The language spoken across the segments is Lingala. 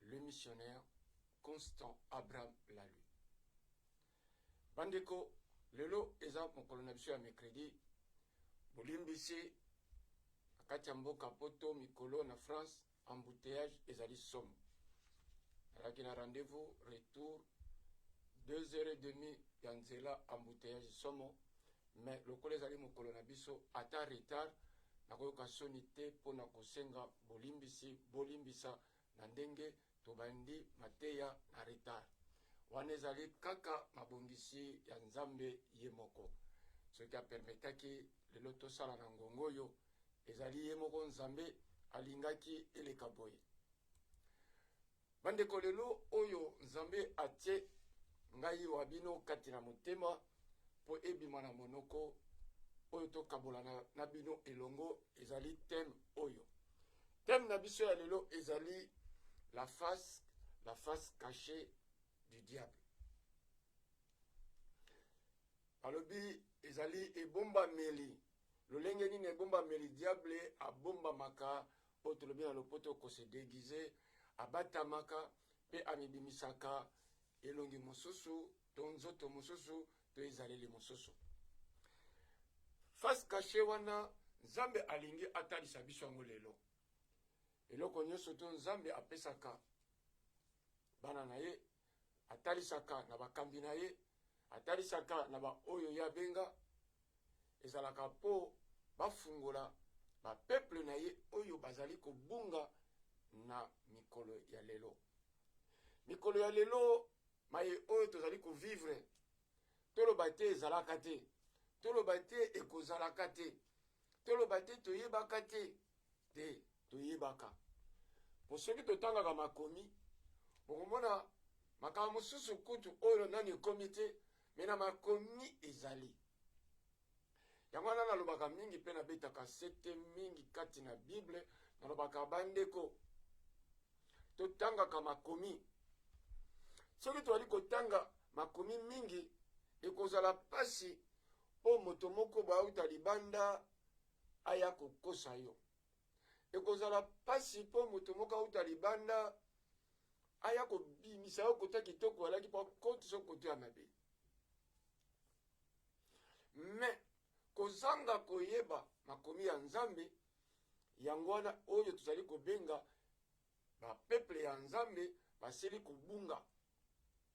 Le missionnaire Constant Abraham Lalu. Bandeko, lelo eza mokolo na biso ya mercredi, bolimbisi na kati ya mboka poto mikolo na France embouteillage ezali somo. Nalaki na rendez-vous retour 2 heures et demi ya nzela embouteillage somo Mais lokola ezali mokolo na biso ata retard nakoyoka soni te pona kosenga bolimbisi bolimbisa na ndenge tobandi mateya na retard wana ezali kaka mabongisi ya nzambe ye moko soki a permetaki lelo tosala na ngonga oyo ezali ye moko nzambe alingaki eleka boye. Bandeko, lelo oyo Nzambe atie ngai wa bino kati na motema mpo ebima na monoko oyo tokabola na, na bino elongo ezali teme oyo. Teme na biso ya lelo ezali la face, la face cachée du diable. Balobi ezali ebombameli, lolenge nini ebombameli diable abombamaka Oyo tolobi na lopoto ko se deguiser, abatamaka pe amibimisaka elongi mosusu to nzoto mosusu to ezaleli mosusu. Face cachee wana Nzambe alingi atalisa biso yango lelo. Eloko nionso to Nzambe apesaka bana na ye atalisaka na bakambi na ye, atalisaka na baoyo ye abenga, ezalaka mpo bafungola bapeple na ye oyo bazali kobunga na mikolo ya lelo. Mikolo ya lelo maye oyo tozali kovivre, toloba te ezalaka te, toloba te ekozalaka te, toloba te toyebaka te te toyebaka po soki totangaka makomi bokomona makambo mosusu kutu oyo nani ekomi te me na makomi ezali yango wana nalobaka mingi mpe nabetaka sete mingi kati na bible nalobaka bandeko totangaka makomi soki tozali kotanga makomi mingi ekozala mpasi mpo moto moko bauta libanda aya kokosa yo. Ekozala pasi po moto moko auta libanda aya kobimisa yo kote kitoko alaki po akotisa kote ya mabe. Mais kozanga koyeba makomi ya Nzambe yango wana oyo tozali kobenga Ba peuple ya nzambe basili kobunga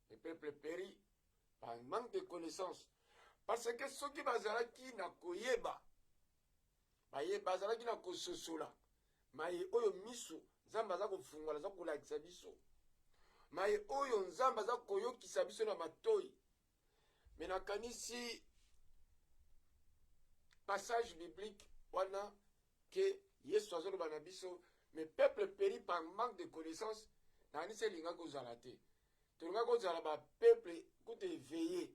le peuple peri par manque de connaissance parce que soki bazalaki na koyeba baye bazalaki na kososola maye oyo miso nzambe aza kofungola aza kolakisa biso maye oyo nzambe aza koyokisa biso na matoi me nakanisi passage biblique wana ke yesu azoloba na biso mais peuple péri par manque de connaissance nakanisi elingaki kozala te tolingaki kozala bapeuple kutu eveille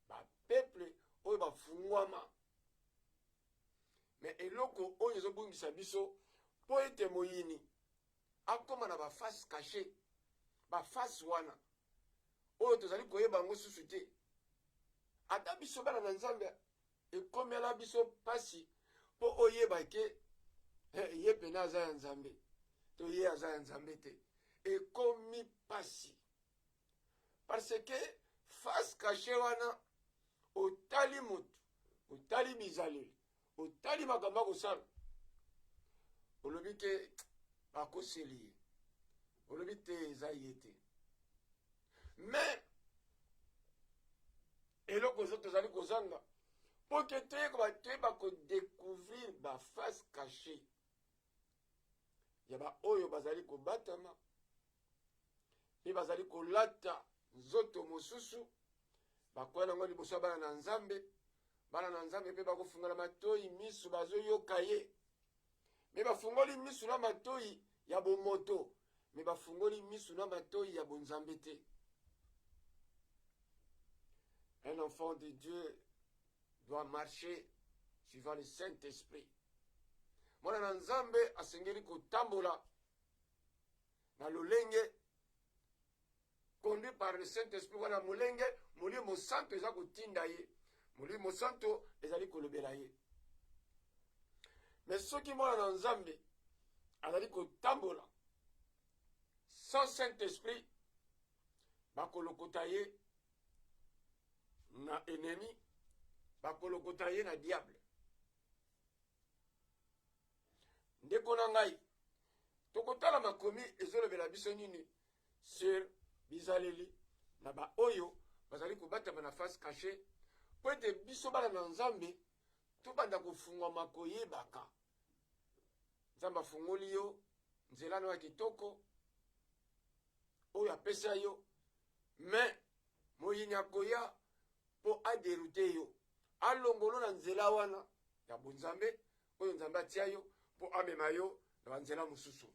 bapeuple oyo bafungwama me eloko oyo ezobungisa biso mpo ete moyini akoma na ba face cache ba face wana oyo tozali koyeba yango susu te ata biso bana na nzambe ekomela biso mpasi mpo oyeba ke eh, ye pene aza ya nzambe to ye aza ya nzambe te ekomi mpasi parce que face cache wana otali motu otali bizaleli otali makambo akosala olobi ke bakoseli ye olobi te eza ye te me eloko ezo tozali kozanga mpo te toyeko bato toyeba kodecouvrir baface cache ya baoyo bazali kobatama mpe bazali kolata nzoto mosusu Bakoya nango liboso ya bana na Nzambe, bana na Nzambe mpe bakofungola matoyi misu, bazoyoka ye me bafungoli misu na matoyi ya bomoto me bafungoli misu na matoyi ya bonzambe te. Un enfant de Dieu doit marcher suivant le Saint-Esprit. Mwana na Nzambe asengeli kotambola na lolenge conduit par le saint esprit wana molenge molimo santo eza kotinda ye molimo santo ezali kolobela ye me soki mwana na nzambe azali kotambola sans saint esprit bakolokota ye na enemi bakolokota ye na diable ndeko na ngai tokotala makomi ezolobela biso nini sur bizaleli na baoyo bazali kobatama na face cache mpo ete biso bana na nzambe tobanda kofungwama koyebaka nzambe afungoli yo nzela no ya kitoko oyo apesa yo me moyini akoya mpo aderute yo alongolo na nzela wana ya bonzambe oyo nzambe atia yo mpo amema yo na banzela mosusu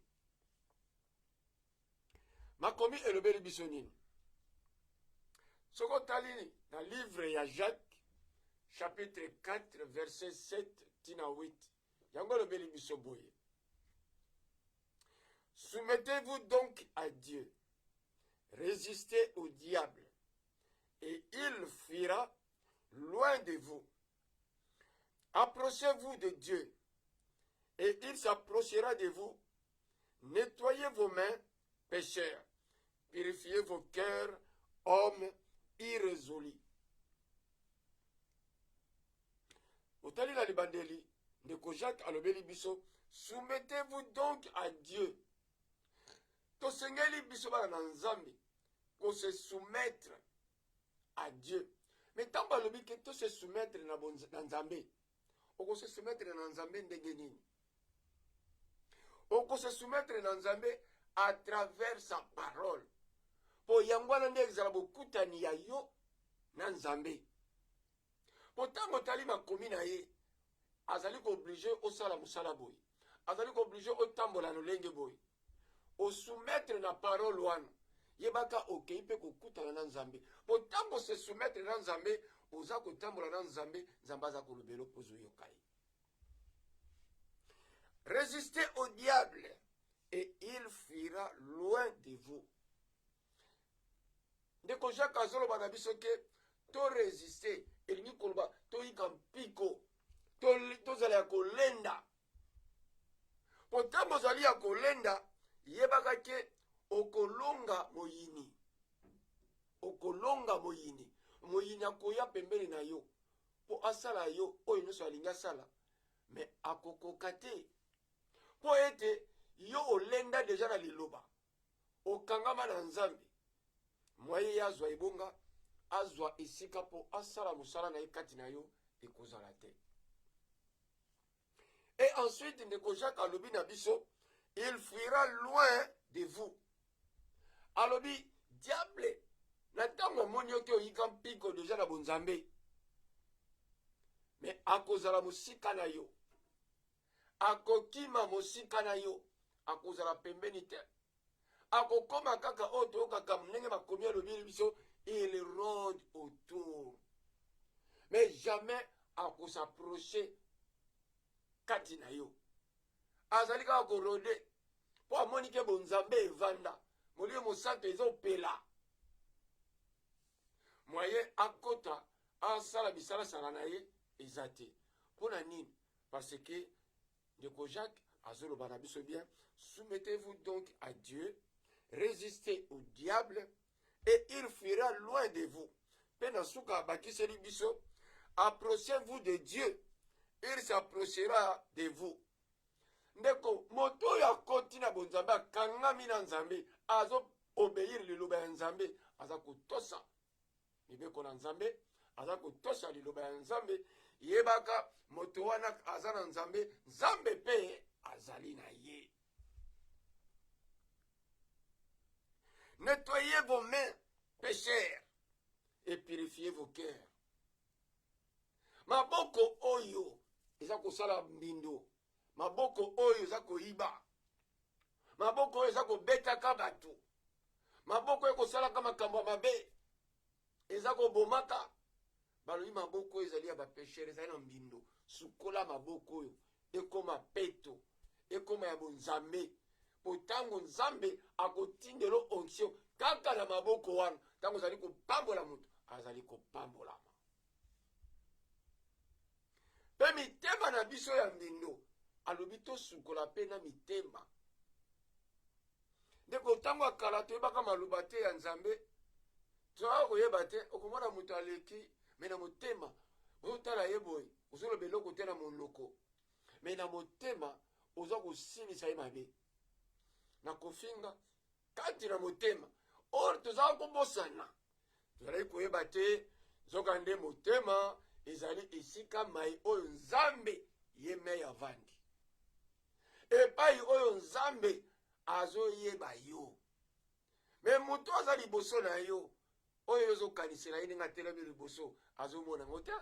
makomi elobeli biso nini soki otali na livre ya jacques chapitre 4 verset 7 tina 8 yango elobeli biso boye soumettez-vous donc à dieu résistez au diable et il fuira loin de vous Approchez-vous de Dieu, et il s'approchera de vous. Nettoyez vos mains, pécheurs. Purifiez vos cœurs, hommes irrésolus. otali na libandeli ndeko jacques alobeli biso soumettez-vous donc à dieu tosengeli biso bana na nzambe kose soumettre à Dieu. Mais ntango alobi ke to se soumettre na, bon, na Nzambe, oko se soumettre na Nzambe ndenge nini? Oko se soumettre na Nzambe à travers sa parole. Po yango wana nde ezala bokutani ya yo na Nzambe. Po ntango otali makomi na ye, azali kooblige osala mosala boye. azali kooblige otambola lolenge boye osoumettre na parole wana yebaka okei mpe kokutana na nzambe mpo ntango se soumettre na nzambe oza kotambola na nzambe nzambe aza kolobela mpo ozoyoka ye resister au diable et il fuira loin de vous ndeko jacques azoloba na biso ke toresiste elingi koloba toyika mpiko tozala ya kolenda mpo ntango ozali ya kolenda yebaka te okolonga moyini okolonga moyini moyini akoya pembeni na yo mpo asala yo oyo nyonso alingi asala me akokoka te mpo ete yo olenda deja na liloba okangama na nzambe mwaye ye azwa ebonga azwa esika mpo asala mosala na ye kati na yo ekozala te et ensuite ndeko jacques alobi na biso il fuira loin de vous alobi diable na ntango amoni yo te oyika mpiko deja na bonzambe me akozala mosika na yo Akokima mosika na yo, akozala pembeni te. Akokoma kaka oyo toyokaka ndenge makomi alobeli biso, il ronde autour mais jamais akosaproche kati na yo. Azali kaka korode mpo amoni ke bonzambe evanda, molimo mosanto ezopela mwaye akota asala bisalasala na ye eza te. Mpo na nini? Parce que Ndeko Jacques azoloba na biso bien, soumettez-vous donc à Dieu, résistez au diable et il fuira loin de vous. Mpe na suka abakiseli biso, approchez-vous de Dieu, il s'approchera de vous. Ndeko, moto oyo akoti na bonzambe, akangami na Nzambe, azo obéir liloba ya Nzambe, aza kotosa mibeko na nzambe aza kotosha liloba ya nzambe yebaka moto wana aza na nzambe nzambe mpe azali na ye nettoyez vos mains pécheurs et purifiez vos cœurs maboko oyo eza kosala mbindo maboko oyo eza koyiba maboko oyo eza kobetaka bato maboko oyo ekosalaka makambo ya mabe eza kobomaka balobi maboko oyo ezali ya bapeshere ezali na mbindo sukola maboko oyo ekoma peto ekoma ya bonzambe mpo ntango nzambe akotindelo onction kaka na maboko wana ntango ozali kopambola moto azali kopambolama mpe mitema na biso ya mbindo alobi tosukola mpe na mitema ndeko ntango ya kala toyebaka maloba te ya nzambe tozalaka koyeba te okomona moto aleki me na motema ozotala ye boye ozoloba eloko te na monoko me na motema oza kosilisa ye mabe na kofinga kati na motema oyo tozalaka kobosana tozalaki koyeba te nzokande motema ezali esika mai oyo nzambe ye mei avandi epai oyo nzambe azoyeba yo me moto aza liboso na yo oyo ozokanisela ye ndenge atelemi liboso azomona yango te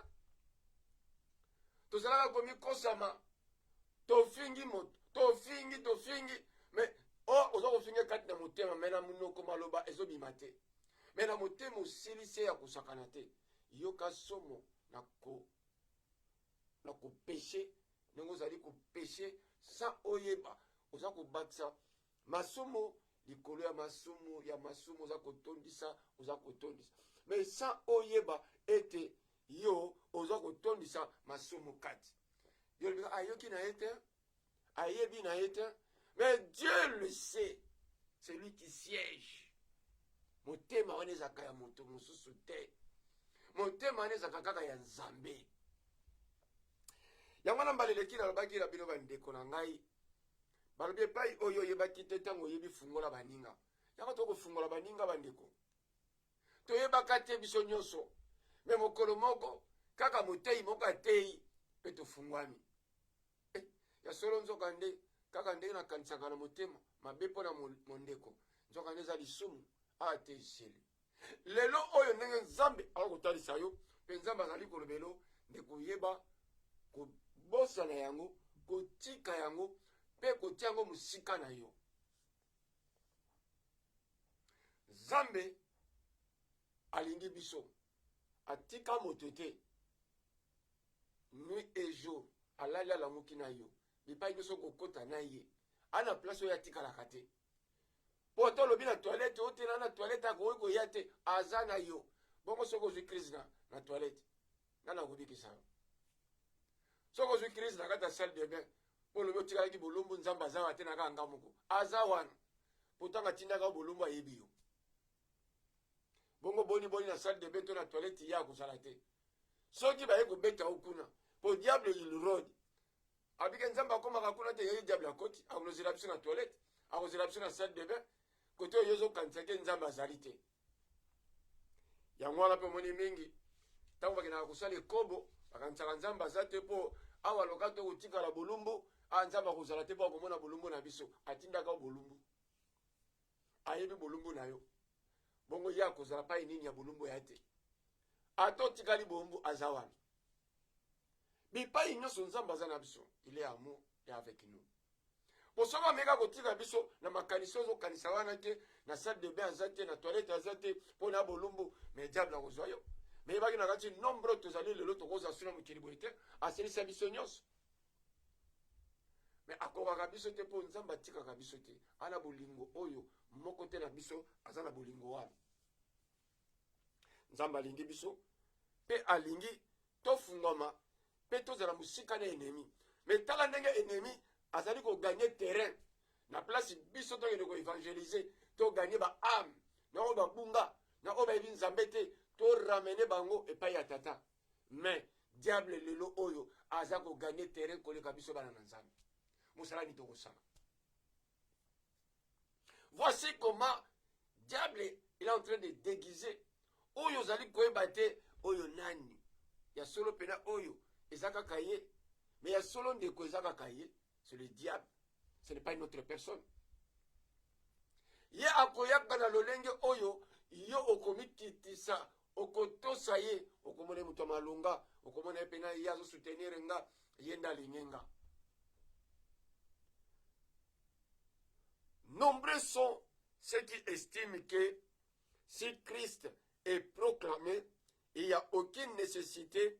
tozalaka komikosama tofingi moto tofingi tofingi me oyo oh, oza kofinga kati na motema me na monoko maloba ezobima te me na motema osili se ya kosakana te yoka somo na ko na kopeshe ndenge ozali kopeshe sans oyeba oza kobakisa masumu likolo ya masumu ya masumu oza kotondisa oza kotondisa me sans oyeba ete yo oza kotondisa masumu kati yo olobika ayoki na ye te ayebi na ye te mais dieu le sait celui qui siège motema wana ezalaka ya moto mosusu te motema wana ezalaka kaka ya nzambe yango wana mbala eleki nalobaki na bino bandeko na ngai balobi epai oyo oyebaki te ntango oyebi fungola baninga yango tokofungola baninga bandeko toyebaka te biso nyonso me mokolo moko kaka moteyi moko ateyi mpe tofungwami Eh, ya solo nzoka nde kaka ndenge nakanisaka na motema mabe mpo na mondeko nzoka nde eza lisumu awa te zeli lelo oyo ndenge nzambe akoki kotalisa yo mpe nzambe azali kolobelo nde koyeba kobosana yango kotika yango mpe kotia yango mosika na yo nzambe alingi biso atika moto te Nuit et jour alali alamuki na yo bipai biso kokota na ye ana place oyo atikalaka te po ata olobi na toilette otela na toilette akoki koya te aza na yo bongo soki ozwi crise na, na toilette nani akobikisa yo soki ozwi crise na kati ya salle de bain po olobi otikalaki bolumbu nzambe aza wa te na kaka nga moko aza wana potanga atindaka yo bolumbu ayebi yo bongo boni boni na salle de bain to na toilette ye akozala te soki baye kobeta yo kuna po diable ilrode abike nzambe akomaka kuna te yeye diable akoti akozela biso na toilette akozela biso na salle de bain kote oyo ozokanisa te nzambe azali te yango wana mpe omoni mingi ntango bakendaka kosala ekobo bakanisaka nzambe aza te mpo awa loka to kotikala bolumbu a nzambe akozala te mpo akomona bolumbu na biso atindaka bolumbu ayebi bolumbu na yo bongo ye akozala pai nini ya bolumbu ya te ata otikali boombu aza wana bipai nyonso nzambe aza na biso ile amour ya avec nous po soki ameka kotika biso na makanisi ozokanisa wana te na salle de bain aza te na toilette aza te mpo na bolumbu mais diable akozwa yo meyebaki na kati nombre tozali lelo tokozwa suna mokili boye te asilisa biso nyonso me akokaka biso te mpo nzambe atikaka biso te ana bolingo oyo moko te na biso aza na bolingo wana nzambe alingi biso mpe alingi tofungwama mpe tozala mosika na enemi me tala ndenge enemi azali koganye terrain na place biso tokende koevangelize toganye baame na oyo babunga na oyo bayebi nzambe te toramene bango epai ya tata mais diable lelo oyo aza ko gagner terrain koleka biso bana na nzambe mosala nini tokosala voici comment diable il est en train de déguiser oyo ozali koyeba te oyo nani ya solo mpena oyo eza kaka ye mais ya solo ndeko eza kaka ye c'est le diable ce n'est pas une autre personne ye akoyaka na lolenge oyo yo okomikitisa okotosa ye okomona ye moto ya malonga okomona ye mpena ye azosoutenir nga ye nde alingi nga nombreux sont ceux qui estiment que si christ est proclamé il n'y a aucune nécessité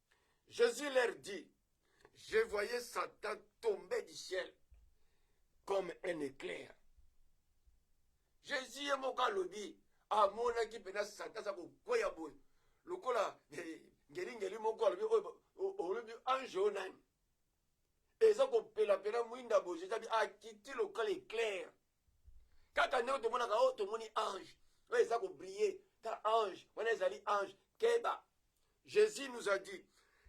Jesus leur dit, je voyais Satan tomber du ciel comme un éclair. Jesus ye moko alobi amonaki mpenza Satan aza kokweya boye lokola ngelingeli moko alobi olobi ange oyo nani eza kopelapela mwinda boye Jesus abi akiti lokola éclair kaka ndenge tomonaka o oh, tomoni ange oyo eza kobrille ta ange wana ezali ange keba jésus nous a dit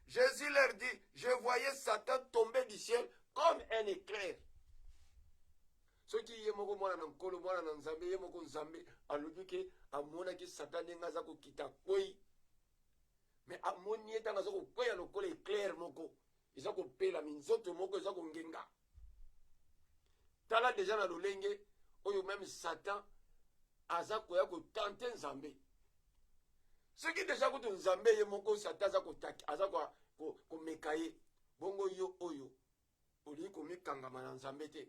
jésus leur dit je voyais satan tomber du ciel comme un éclair soki ye moko mwana na nkolo mwana na nzambe ye moko nzambe alobi ke amonaki satan ndenge aza kokita kwei me amoni ye ntango aza kokweya lokola eclaire moko eza kopela minzoto moko eza kongenga tala deja na lolenge oyo meme satan aza koya kotante nzambe soki deja kutu nzambe ye moko satan aza kotaki aza komeka ye bongo yo oyo olingi komikangama na nzambe te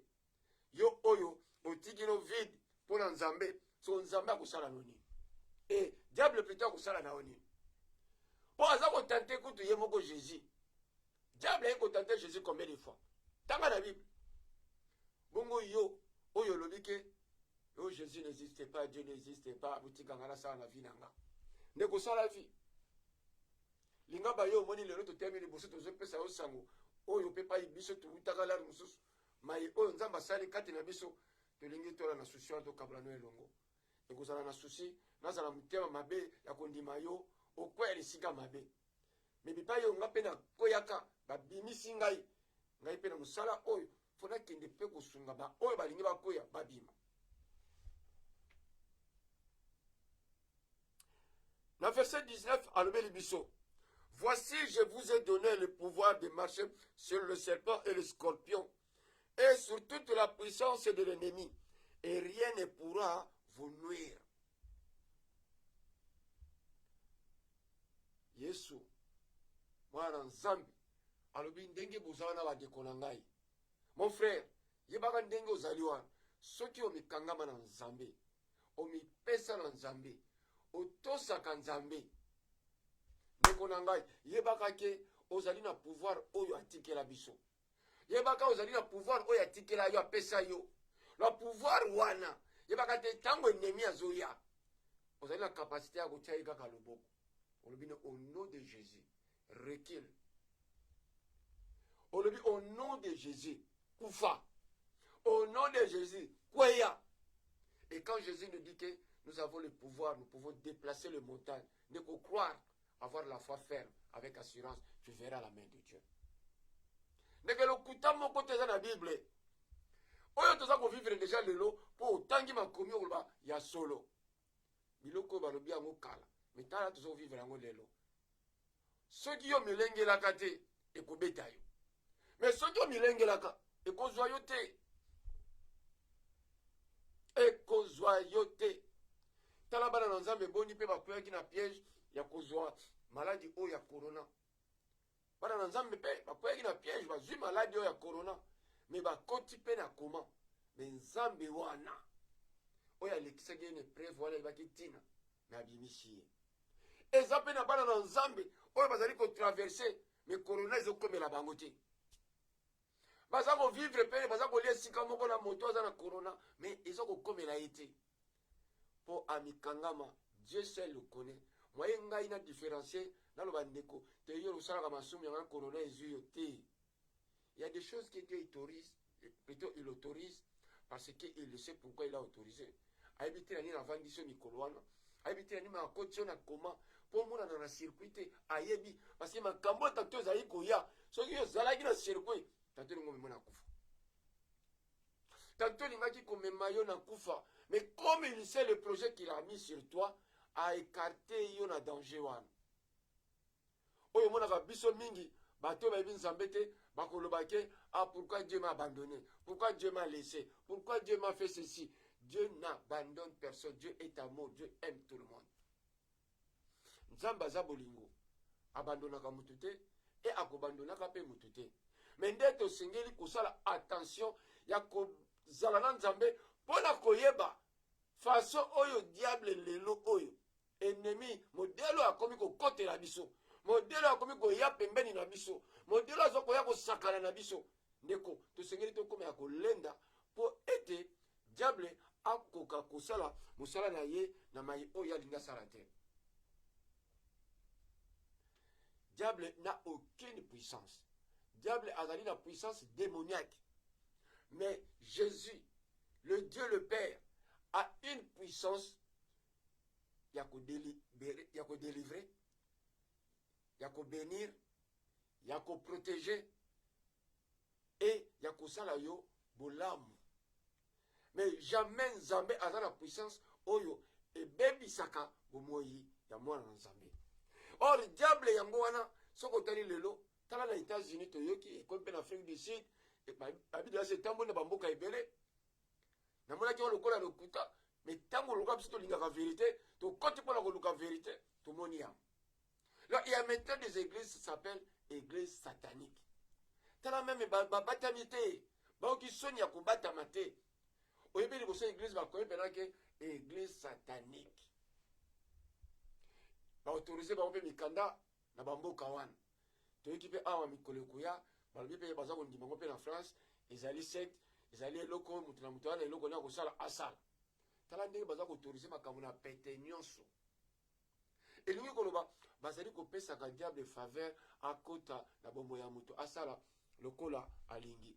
yo oyo otiki no vide mpo na nzambe so nzambe akosala no nini e diable plutôt akosala na yo nini mpo aza kotante kutu ye moko jésus diable aye kotante jésus combien de fois tanga na bible bongo yo oyo olobi ke yo jésus n'existe pas dieu n'existe pas botikanga nasala na vi na nga nde kosala vi linga bayo omoni lelo totemi liboso tozopesa yo sango oyo mpe pai biso towutaka lari mosusu mai oyo nzambe asali kati na biso tolingi tola na susi wana tokabola no elongo ekozala na susi nazala motema mabe ya kondima yo okwea lisika mabe me bipai oyo ngai mpe nakweyaka babimisi ngai ngai mpe na mosala oyo mpo nakende mpe kosunga baoyo balingi bakweya babima Na verset 19 alobeli biso Voici, je vous ai donné le pouvoir de marcher sur le serpent et le scorpion, et sur toute la puissance de l'ennemi, et rien ne pourra vous nuire. Yesu, mwana nzambe alobi ndenge bozala na bandeko na ngai mon frère yebaka ndenge ozali wana soki omikangama na nzambe omipesa na nzambe otosaka nzambe ndeko na ngai yebaka ke ozali na pouvoir oyo atikela biso yebaka ozali na pouvoir oyo atikela yo apesa yo na pouvoir wana yebaka te ntango enemi azoya ozali na kapasite ya kotya ye kaka loboko olobi ne au nom de jésus Recule. Olobi au nom de Jésus, kufa. Au nom de Jésus, kweya. Et quand Jésus nous dit que nous avons le pouvoir, nous pouvons déplacer les montagnes, ne qu'au croire, avoir la foi ferme, avec assurance, tu verras la main de Dieu. ndeke lokuta moko te eza na bible oyo toza kovivre deja lelo mpo otangi makomi okoloba ya solo biloko oyo balobi yango kala me tala tozo vivre yango lelo soki yo milengelaka te ekobeta yo me soki omilengelaka ekozwa yo te ekozwa yo te tala bana na nzambe boni mpe bakweyaki na piège ya kozwa maladi oyo ya corona bana na nzambe mpe bakweyaki na piège bazwi maladi oyo ya corona me bakoti mpe na koma me nzambe wana oyo alekisaki ye na epreve wana ayebaki ntina me abimisi ye eza mpe na bana na nzambe oyo bazali kotraverse me corona ezokomela bango te baza kovivre mpe baza kolia esika moko na moto aza na corona me eza kokomela ye te po amikangama Dieu seul le connait moyen ngai na differencier naloba ndeko te yo osalaka masumu yango corona ezui yo te il y a des choses que Dieu autorise plutôt il autorise parce que il sait pourquoi il a autorisé ayebi te na nini avandisi yo mikolo wana ayebi te na nini akoti yo na koma mpo omonana na circuit te ayebi parce que makambo oyo tato ezali koya soki yo ozalaki na circuit tato elingo omemona akufa Quand on m'a dit qu'on me maillot na koufa, mais comme il sait le projet qu'il a mis sur toi, a écarté yo na danger wana. Oyo mona va biso mingi, bato bayebi nzambe te bakoloba ke ah pourquoi dieu m'a abandonné pourquoi dieu m'a laissé pourquoi dieu m'a fait ceci dieu n'abandonne personne dieu est amour dieu aime tout le monde nzambe aza bolingo abandonaka moto te e akobandonaka mpe moto te me nde tosengeli kosala attention ya kozala na nzambe mpo na koyeba faso oyo diable lelo oyo enemi modele oyo akomi kokotela biso modele oyo akomi koya pembeni na biso modele oyo aza koya kosakana na biso Ndeko, tosengeli tokoma ya kolenda mpo ete diable akoka kosala mosala na ye na mai oyo alingi asala te. Diable n'a aucune puissance. Diable a la puissance démoniaque. Mais Jésus, le Dieu le Père, a une puissance ya ko délivrer, ya ko bénir, ya ko proteger et ya kosala yo bolamu mais jamais nzambe aza na puissance oyo ebebisaka bomoi ya mwana na nzambe or diable yango wana soki otali lelo tala na états-unis toyoki ekomi mpe na afrique du sud babidasi etamboli na bamboka ebele namonaki yango lokola lokuta mais ntango oluka biso tolingaka verité tokoti mpo na koluka verité tomoni yango Non, il y a maintenant des églises qui s'appellent églises sataniques. Tala même babatami te, baoki soni ya kobatama te. Oyebi liboso église bakomi mpena ke église satanique. Baautorise bango mpe mikanda na bamboka wana. Toyoki mpe awa mikolo ekoya, balobi mpe baza kondima ngo mpe na France, ezali secte, ezali eloko moto na moto wana eloko nini akosala asala. Tala ndenge baza koautorise makambo na pete nyonso. elingi koloba bazali kopesaka diable faveur akota na bombo ya moto asala lokola alingi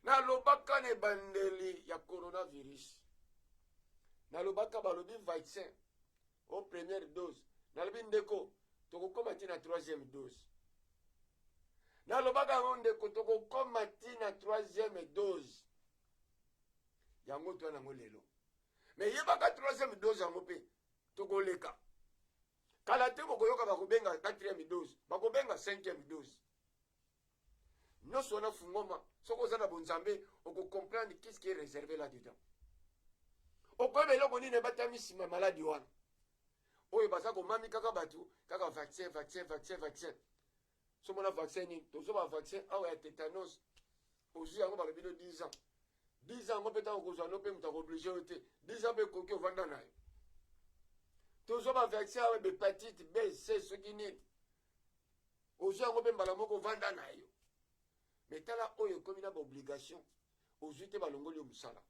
nalobaka na ebandeli ya coronavirus nalobaka balobi vaccin o première dose nalobi ndeko tokokoma ti na troisième dose nalobaka yango ndeko tokokoma ti na troisième dose yango twana yango lelo me yebaka troisième dose yango mpe tokoleka kala te bokoyoka bakobenga 4e dose bakobenga 5e dose nyonso wana fungoma soki oza na bonzambe okocomprendre qu'est ce qui est réservé là dedans okoyeba eloko nini ebatami nsima maladi wana oyo baza komami kaka bato kaka vaccin vaccin vaccin vaccin somo na vaccin nini tozwa ba vaccin awa ya tetanos ozwi yango balobi no 10 ans 10 ans yango mpe ntango okozwa no mpe moto akooblige yo te 10 ans mpe ekoki ovanda na yo tozwa ba vaccin awa bepatite b c soki nini ozwi yango mpe mbala moko ovanda na yo me tala oyo ekomi na baobligation ozwi te balongoli yo mosala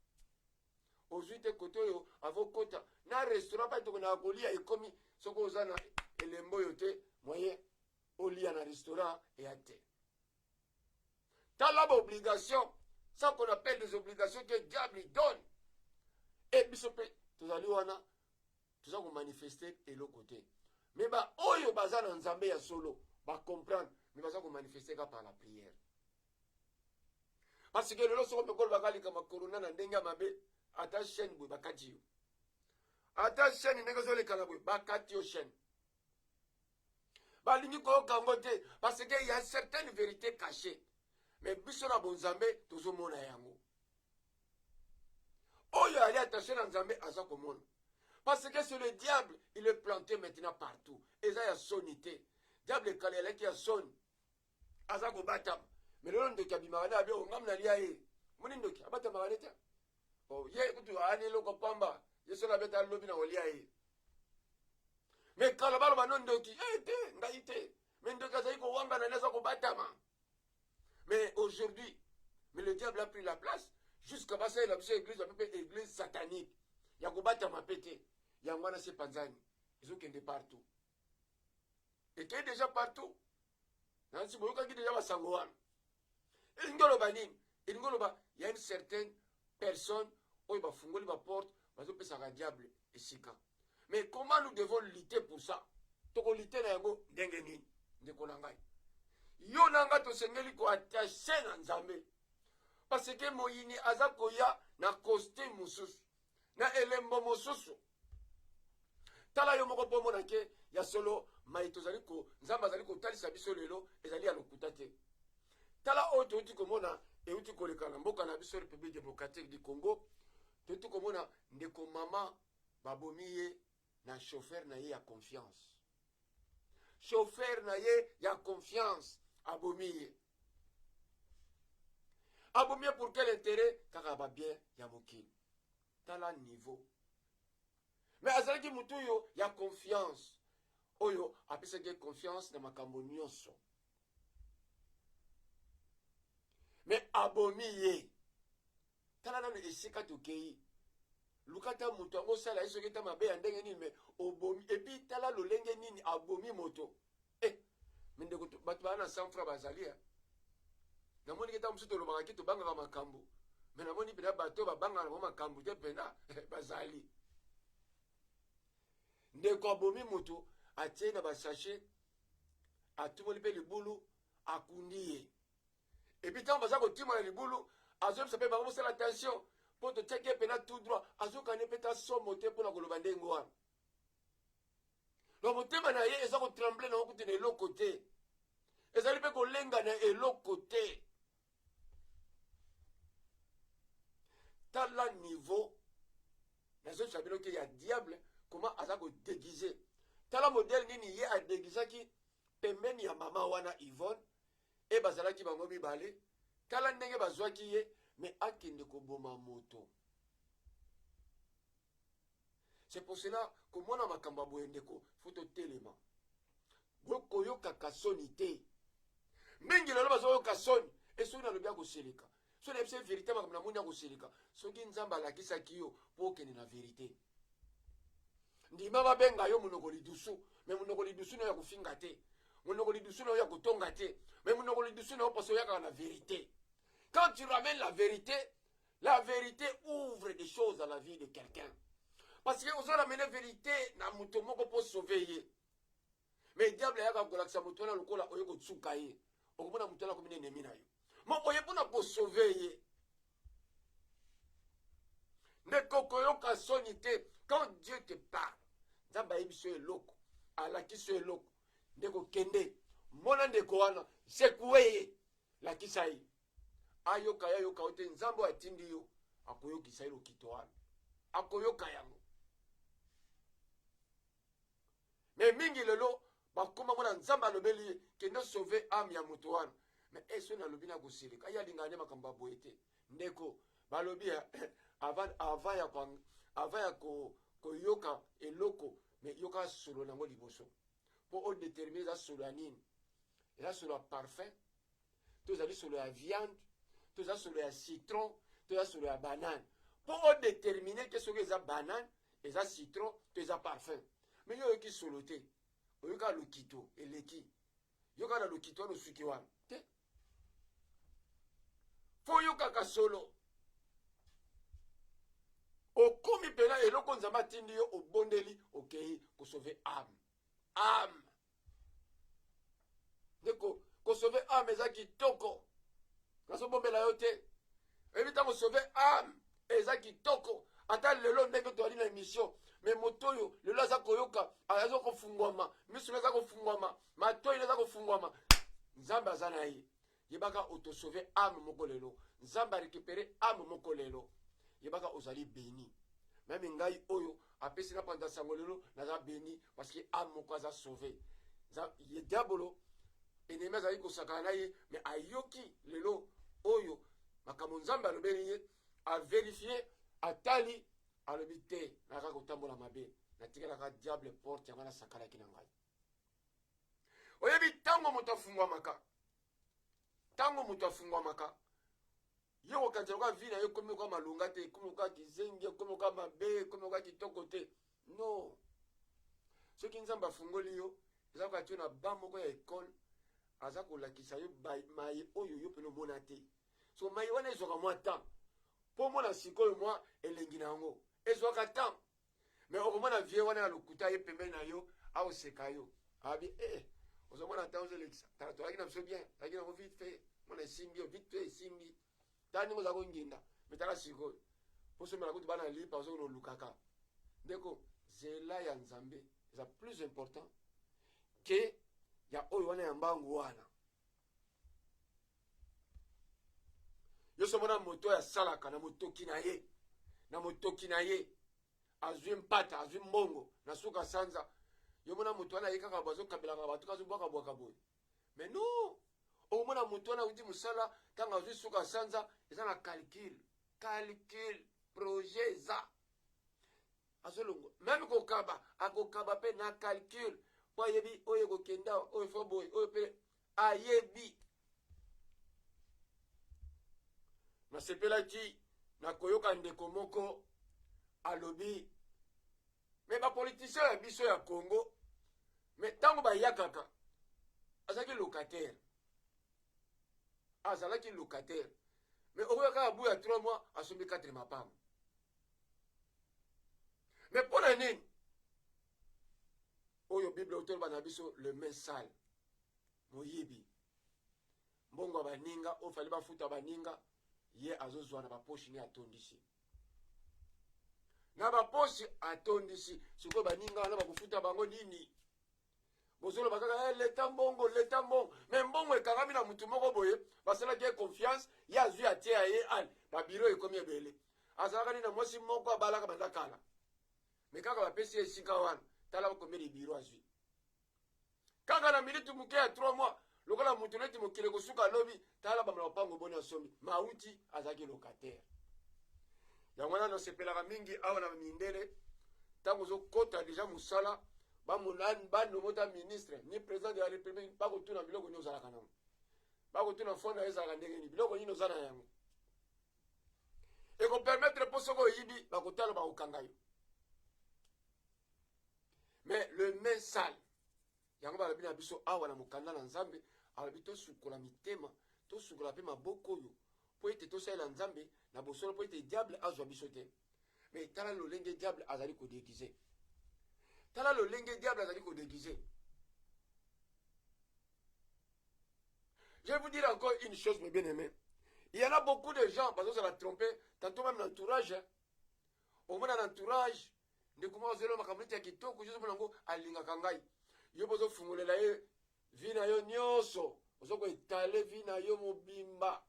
ozwi te kote oyo avokota na restaurant pai tokonaka kolia ekomi soki oza na elembo oyo te moyen olia na restaurant eya te tala baobligation ça qu'on appelle des obligations que diable donne e biso mpe tozali wana toza komanifeste eloko te me baoyo baza na nzambe ya solo bacomprendre me baza komanifeste ka par la prière parce que lelo soko mpe kolobaka likambo ya corona na ndenge ya mabe ata chaîne boye bakati yo ata chaîne ndenge ezolekana boye bakati yo chaîne balingi koyoka yango te parce que ya certaine vérité caché mais biso na bonzambe tozomona yango oyo ali attaché na nzambe aza komona parce que c'est le diable il est planté maintenant partout eza ya soni te diable ekala elaki ya soni aza kobatama me lelo ndoki abimaka nde abio ngam nalia ye moni ndoki abatamaka nde te oh, ye kutu aani eloko pamba ye soki abeta lobi na kolia ye me kala baloba no ndoki e eh, te ngai te me ndoki azali kowangana nde aza kobatama me aujourd'hui me le diable a pris la place jusqu'à basalela biso église bape mpe église satanique ya kobatama mpe te yango wana se panzani ezokende partout ekei déjà partout nansi boyokaki deja basango wana elingi oloba nini elingi oloba ya une certaine personne oyo bafungoli baporte bazopesaka diable esika mais comment nous devons lutter pour ça tokolite na yango ndenge nini ndeko na ngai yo na ngai tosengeli koattache na nzambe parce que moyini aza koya na costume mosusu na elembo mosusu tala yo moko bomona ke ya solo mai tozali ko nzambe azali kotalisa biso lelo ezali ya lokuta te tala oyo touti komona euti koleka na mboka na biso république démocratique du congo touti komona ndeko mama babomi ye na chauffeur na ye ya confiance chauffeur na ye ya confiance abomi ye abomi ye pour quel intérêt kaka ba bien ya mokili tala niveau mais azalaki motu oyo ya confiance oyo apesaki ye confiance na makambo nyonso mais abomi ye tala nanu esika tokeyi luka ata moto yango osala ye soki ata mabe ya ndenge nini me obomi epuis tala lolenge nini abomi moto eh, mindeko bato baa na sanfra bazali ya eh. namoni ke ntango mosusu tolobaka ke tobangaka makambo me namoni mpena bato babangaka nango makambo te mpena eh, bazali ndeko abomi moto atie na basashe atumoli mpe libulu akundi ye epuis ntango baza kotima na libulu azoyebisa mpe bango bosala attention mpo totiaki ye mpena tout droit azokani mpe ta somo te mpo na koloba ndenge wana na motema na ye eza kotremble nango kutu na eloko te ezali mpe kolenga na eloko te tala niveau nazozwa bino ke ya diable koma aza kodegize tala modele nini ye adegisaki pembeni ya mama wana yvonne e bazalaki bango mibale tala ndenge bazwaki ye me akende koboma moto c'est pour cela komona makambo ya boye ndeko fo totelema bokoyokaka soni te mingi lelo bazoyoka soni e soki nalobi akoseleka soki nayebisa verité makambo namoni akoseleka soki nzambe alakisaki yo mpo okende na verité ndima babenga yo monoko lidusu me monoko lidusu nayo ya kofinga te monoko lidusu nayo ya kotonga te me monoko lidusu nayo mposo oyakaka na verite quand tu ramènes la verite la verite ouvre des choses dans la vie de quelqu'un parce que ozo ramene verite na moto moko mpo sauve ye mais diable ayaka kolakisa moto wana lokola oye kotsuka ye okomona moto wana akomina enemi na yo ma oye mpona kosove ye ndeko okoyoka soni te quand dieu te parle nzambe ayebisi yo eloko alakisi yo eloko ndeko kende mona ndeko wana sekue ye lakisa ye ayoka ye ayoka yo te nzambe oyo atindi yo akoyokisa ye lokito wana akoyoka yango me mingi lelo bakoma mona nzambe alobeli ye kende sauve ame ya moto wana me eso nalobi na kosilika ye alingaka nde makambo ya boye te ndeko balobi ya eh, avant, avant ya, kwa, avant ya ko, koyoka eloko me yoka solo nango liboso mpo odetermine eza solo ya nini eza solo ya parfum toza lisolo ya viande toza solo ya citron toza solo ya banane mpo odetermine te soki eza banane eza citron to eza parfum me yo oyoki solo te oyoka lokito eleki yoka na lokito wana osuki wana te mpo oyokaka solo okomi mpena eloko nzambe atindi yo obondeli okei kosove ame ame ndeko kosove ame eza kitoko nazobombela yo te oyebi ntango sove ame eza kitoko ata lelo ndenge toyali na emission me moto oyo lelo aza koyoka aza kofungwama misu aza kofungwama matoi aza kofungwama nzambe aza na ye yebaka auto sauver ame moko lelo nzambe a récupérer ame moko lelo yebaka ozali béni meme ngai oyo apesi na panza sango lelo naza béni parce que ame moko aza sauver ye diabolo enemi azali kosakana na ye mais ayoki lelo oyo makambo nzambe alobeli ye averifie atali alobi te naka kotambola mabe natikelaka diable porte yango nasakalaki na ngai oyebi ntango moto afungwamaka ntango moto afungwamaka ye kokanisa lokola vi na ye ekomi lokola malonga te ekomi lokola kizengi ekomi lokola mabe ekomi lokola kitoko te no soki nzambe afungoli yo eza lokola tio na ba moko ya ekole aza kolakisa yo maye oyo yo mpena omona te so maye wana ezwaka mwa temps mpo omona sikoyo mwa elengi na yango ezwaka temps mais okomona vieux wana ya lokuta ye pembeni na yo aoseka yo abi e eh, ozomona ntango ozolekisa tala tolaki na biso bien tolaki nango vite fait mona esimbi yo vite fait esimbi tala ndenge oza konginda me tala sikoyo posomela kutu bana lipa ozokona olukaka ndeko zela ya nzambe eza plus important ke ya oyo wana ya mbangu wana yoso mona moto oyo asalaka na motoki na ye na motoki na ye azwi mpata azwi mbongo na suka sanza yo mona moto wana aye kaka bazokabelaka bato kazobwakabwaka boye mais non okomona moto wana auti mosala ntango azwi suka sanza eza na calcule calcule projet eza azolongwa meme kokaba akokaba mpe na calcul mpo ayebi oyo ekokenda oyo fo boye oyo mpe ayebi nasepelaki na koyoka ndeko moko alobi me bapolitisien ya biso ya congo me ntango bayakaka azalaki locataire azalaki locataire me okoyaka abu ya 3 mois asombi 4 mapango me mpo na nini oyo bible otoloba na biso le main sale moyibi mbongo ya baninga oyo fali bafuta baninga ye azozwa na baposhi ne atondisi na baposhi atondisi sikoyo baninga wana bakofuta bango nini bozoloba kaka hey, eh, leta mbongo leta mbongo me mbongo ekangami na motu moko boye basalaki ye confiance ye azwi atie ya ye ane babiro ekomi ebele azalaka nini na mwasi moko abalaka banda kala me kaka bapesi ye esika wana tala bakomeli biro azwi kaka na miniti moke ya 3 mois lokola moto neti mokili ekosuka lobi tala bamala lopango boni asombi mauti azalaki locataire yango wana nasepelaka mingi awa na mindele ntango ozokota deja mosala bamonani banomota ministre ni président de la république bakotuna biloko nini ozalaka nango bakotuna fo na yo ezalaka ndenge nini biloko nini oza na yango ekopermettre mpo soki oyibi bakotala bakokanga yo mais le main sale Yango balobi na biso awa na mokanda na Nzambe, alobi tosukola mitema, tosukola mpe maboko oyo, mpo ete tosalela Nzambe na bosolo, mpo ete diable azwa biso te. Mais tala lolenge diable azali ko déguiser. Tala lolenge diable azali ko déguiser. Je vais vous dire encore une chose, mes bien-aimés. Il y en a beaucoup de gens, parce que ça va tromper, tantôt même l'entourage, hein. omona na entourage ndeko moko azoloba makambo neti ya kitoko ozomona yango alingaka ngai yo mpe ozofungolela ye vi na yo nyonso ozo koetale vi na yo mobimba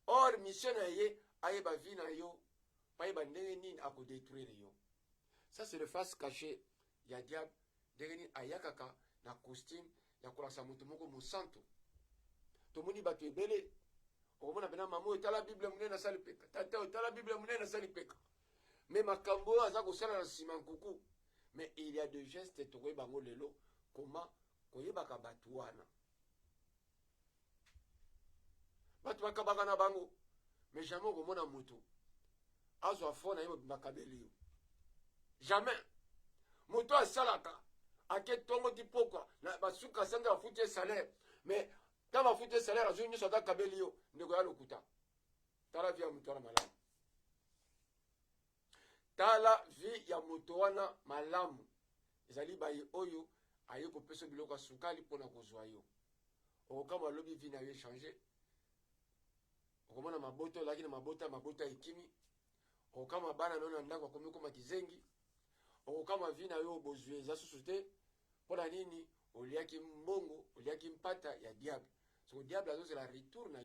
or mission na ye ayeba vi na yo ayeba ndenge nini akodetruire yo ça c'est le face caché ya diable ndenge nini ayakaka na costume ya kolakisa moto moko mosantu tomoni bato ebele okomona pena mama oyo tala bible monene asali peka tata oyo tala bible monene asali peka me makambo oyo aza kosala na nsima nkuku mais il y a de geste tokoyeba yango lelo koma koyebaka bato wana bato bakabaka na bango mais jamais okomona moto azwa fo na ye mobimba akabeli yo jamais moto asalaka ake ntongo ti pokwa na basuka sange bafuti ye salaire mais ntango bafuti ye salaire azwi nyonso ata akabeli yo ndeko ya lokuta tala vi ya moto wana malamu tala vie ya moto wana malamu ezali baye oyo aye kopesa biloko ya sukali mpo na kozwa yo okokama lobi vie na yo echange okomona mabota olaki na mabota mabota ekimi okokama bana na yo na ndako akomi koma kizengi okokama vie na yo bozwi eza susu te mpo na nini oliaki mbongo oliaki mpata ya diable soko diable azozela retour na